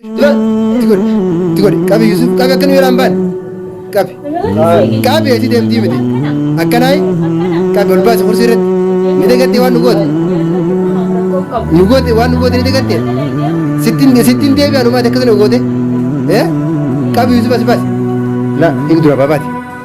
Lol! Itti godhi! Itti godhi! Qabi Yusuf! Qabi akka nu jalaa hin baane! Qabi! Qabi eessi deemtii miti! Akkanaayi! Qabi ol baasi kursii irratti! Ni dagattee waan nu goote! Nu goote waan nu goote ni dagattee! Sittin sittin deebi anumaati akkasuma goote! Eh? Qabi Yusuf as baasi! La! Hin dura baabaati!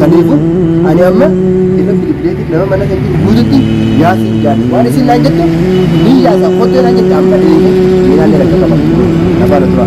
Saniifu ani amma irra bilbileetiif nama mana san jiru guututti yaasiin jaadhe waan isin naan jettu ni yaasa kottee naan jette amma deeme miinaallee rakka qaba na faana tura.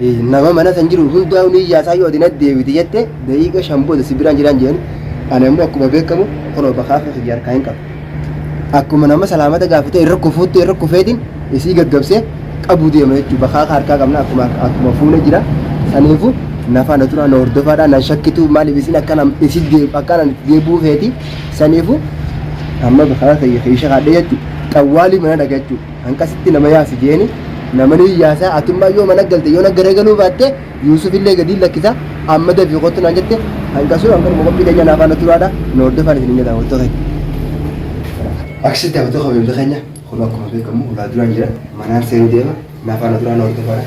Nama mana san jiru hundaa'u ni iyyaasaa yoo ati natti deebite jette daqiiqa shan booda si biraan jiraan jedhani. Ani ammoo akkuma beekamu kunoo bakaafee kiyya harkaa hin qabu. Akkuma nama salaamata gaafatee irra kufuutti irra kufeetiin isii gaggabsee qabu deema jechuudha. Bakaaka harkaa qabna akkuma akkuma fuune jira. Saniifu nafaa na turaa na hordofaadha nan shakkitu maaliif isin akkana isin deeb akkana itti deebuu feeti. Saniifu amma bakaaka kiyya keesha kaadhee jechuudha. Xawwaalii mana dhaga jechuudha. Hanqasitti nama yaasi jeeni, namani hin yaasa, atummaa yoo mana galte yoo na garagaluu baatte Yuusufillee gadiin lakkisa, amma dafii kottu naan jette, hanqasuu hanqanuma qophii keenya naa faana turaadha, nu hordofaan isinin jedha hawwattoota keenya. Akkasitti hawwattoota kabajamtoota keenya kun akkuma beekamu ulaa duraan jira, manaan seenuu deema, naa faana turaa na hordofaadha.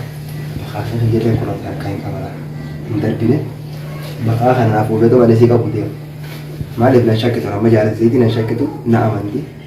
Baqaa fi hiyyeelleen kun of harkaa hin qabala, hin darbine. Baqaa kana naaf obeeto malee sii qabu deema. Maaliif nan shakkitu amma jaalatti seetii nan shakkitu na amanti.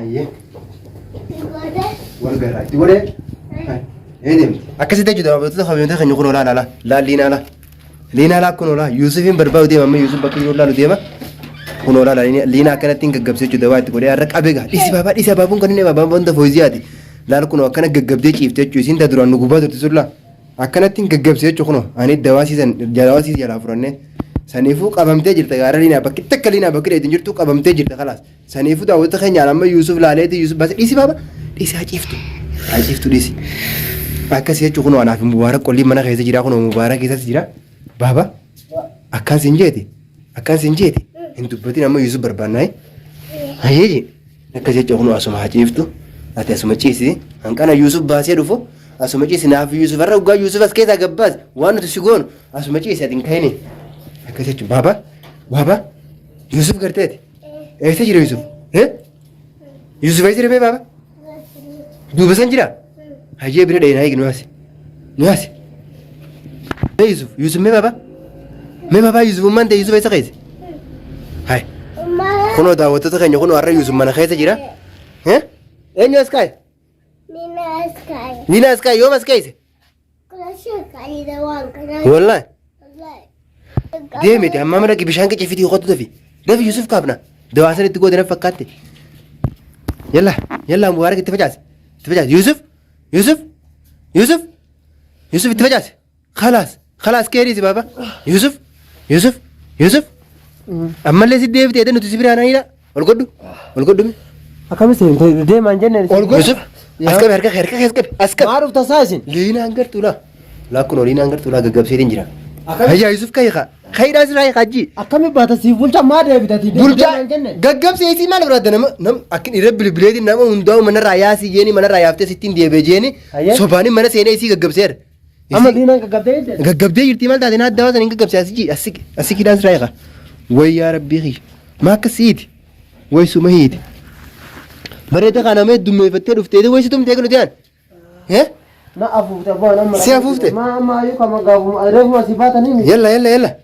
Ayyee. Wal garraa itti godhee. Ee deemu. Akkasitti jechuudha babal'attoota fayyadamtoota keenya kun olaa laala. Laal liinaa laa. Liinaa laa kun olaa Yuusufiin barbaadu deema amma Yuusuf bakka jiru laalu deema. Kun olaa laa liinaa akkanatti hin gaggabsee jechuudha waa itti godhee har'a qabee gaa. Dhisi baabaa dhisi abaabuun kan inni abaabaan wanta fooyisiyaati. Laal kun akkana gaggabdee ciifte jechuudha isiin taa duraan nu gubbaa turte sullaa. Akkanatti hin gaggabsee jechuudha kun ani dawaasiisan dawaasiis jalaa furannee. Saniifuu qabamtee jirta gaara liinaa bakki takka liinaa bakki dheetiin jirtu qabamtee jirta kalaas. Saniifuu daawwata keenyaan amma Yuusuf laaleeti Yuusuf bas dhiisi baaba dhiisi haa ciiftu haa ciiftu dhiisi. Akkasii jechuun kunoo anaaf mubaarak qolliin mana keessa jira kunoo mubaarak keessas jira baaba akkaan siin jeeti akkaan siin jeeti hin dubbatin amma Yuusuf barbaannaa hayyee akkas jechuun kunoo asuma haa ciiftu ati asuma ciisi hanqana Yuusuf baasee dhufu asuma ciisi naaf Yuusuf irra dhugaa Yuusuf as keessaa gabbaas waan nuti si goonu asuma ciisi ati hin ka'ini akkas jechuun baaba baaba Yuusuf garteeti. Eessa jira Yusuf? Eh? Yusuf eessa jira bee baaba? Duuba san jira? Hayyee bira dha'ee naa eegi nu haasi. Nu haasi. Mee Yusuf, Yusuf mee baaba? Mee baaba Yusuf ummaan ta'e Yusuf eessa keessa? Hai. Kunoo daawwattoota keenya kunoo har'a Yusuf mana keessa jira. Eh? Eenyu as kaa'e? Nina Sky. Nina as kaa'e yoom as keessa? Wallahi. Deemi amma mana bishaan qicci fiti qotu dafi. Dafi Yusuf kaabna. Dawaa san itti goode na fakkaatti. Yalla yalla Mubaarak itti facaasi. Itti facaasi Yusuf Yusuf Yusuf Yusuf itti facaasi. Khalaas khalaas keeriisi baaba. Yusuf Yusuf Yusuf ammallee si deebite edda nuti si biraan anidha. Ol godhu. Ol godhu. Akkamis deemaan jenne. Ol godhu. Yusuf. As qabi harka kee harka kee as qabi. As qabi. Maa dhufta isaa isin? Liinaan gartuu laa. Laa kunoo liinaan gartuu laa gaggabseetiin jira. Akkami- Hayyaa Yusuf ka'i kaa. Ka'idhaa siraa hiikaa jii. Akkami baata siif bulcha maa deebitati? Bulchaa Deemaan jenne. gaggabsee isii maal biraadda nama nam akkin irra bilbileetiin nama hundaa'u manarraa yaasii jeeni manarraa yaaftee sittiin deebee jeeni Hayyee. sobaanii mana seenee isii gaggabseera. Amma diinaan gaggabdee jirti. Gaggabdee jirti maal taate naaddaa waan saniin gaggabsee asii asii asii kiidaan siraa eegaa. Way yaa rabbii kiyya. Maa akka siiti. Way suma hiiti. Bareeda kana mee dummeeffattee dhuftee way si tumtee kan nuti aan. Eh? Na afuufte abbaan amma. Si afuufte? Ma amma ayyuu kama gaafuma reefuma si baatanii miti. Yalla yalla yalla.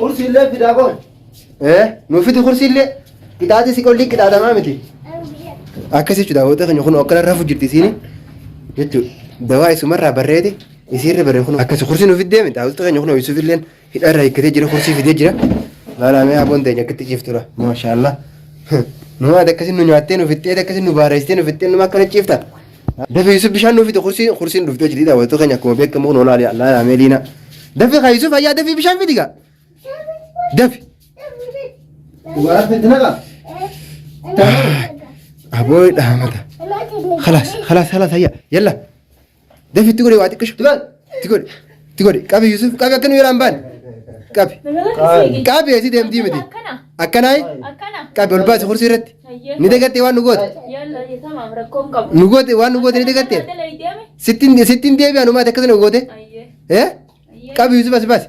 Kursiillee fidaa koon. Ee nuu fidi kursiillee qixaaxii si qolli qixaaxamaa miti. Akkas jechuudha daawwattoota keenya kun akka rafuu jirti isiin jechuudha. Dawaa isumarraa barreeti isiirra barree kun akkas kursii nuu fiddee miti daawwattoota keenya kun ho'isuuf illee hidharra hiikkatee jira kursii fidee jira. Laalamee aboon ta'e akkatti ciiftura. Maashaallah. Numaati akkasii nu nyaattee nu fixxee akkasii nu baareessitee nu fixxee numa akkana ciifta. Dafi Yusuf bishaan nuuf fide kursiin kursiin dhufte hojii dhiidhaa wantoota keenya akkuma beekamu kun olaa laa laamee liina. Dafi kaa Yusuf ayyaa dafi bishaan fidi kaa. Dafi. Dubaraa fidina kaa. Aboo dhaamata. Kalaas kalaas kalaas ayyaa yalla. Dafi itti godhe waa xiqqishu. Dubaraa. Itti godhi. Itti godhi. Qabi Yusuf. Qabi akka nu jalaa hin baane. Qabi. Qabi asii deemtii miti. Akkana. Akkanaa Akkana. qabi ol baasi kursii irratti. Hayyee. Ni dagattee waan nu goote. Yalla tamaam rakkoon qabu. Nu goote waan nu goote ni dagattee. Akkana dalaydee mi? Sittiin sittiin deebi'an uumaati akkasana nu goote. Hayyee. Eh? Hayyee. Qabi Yusuf as baasi.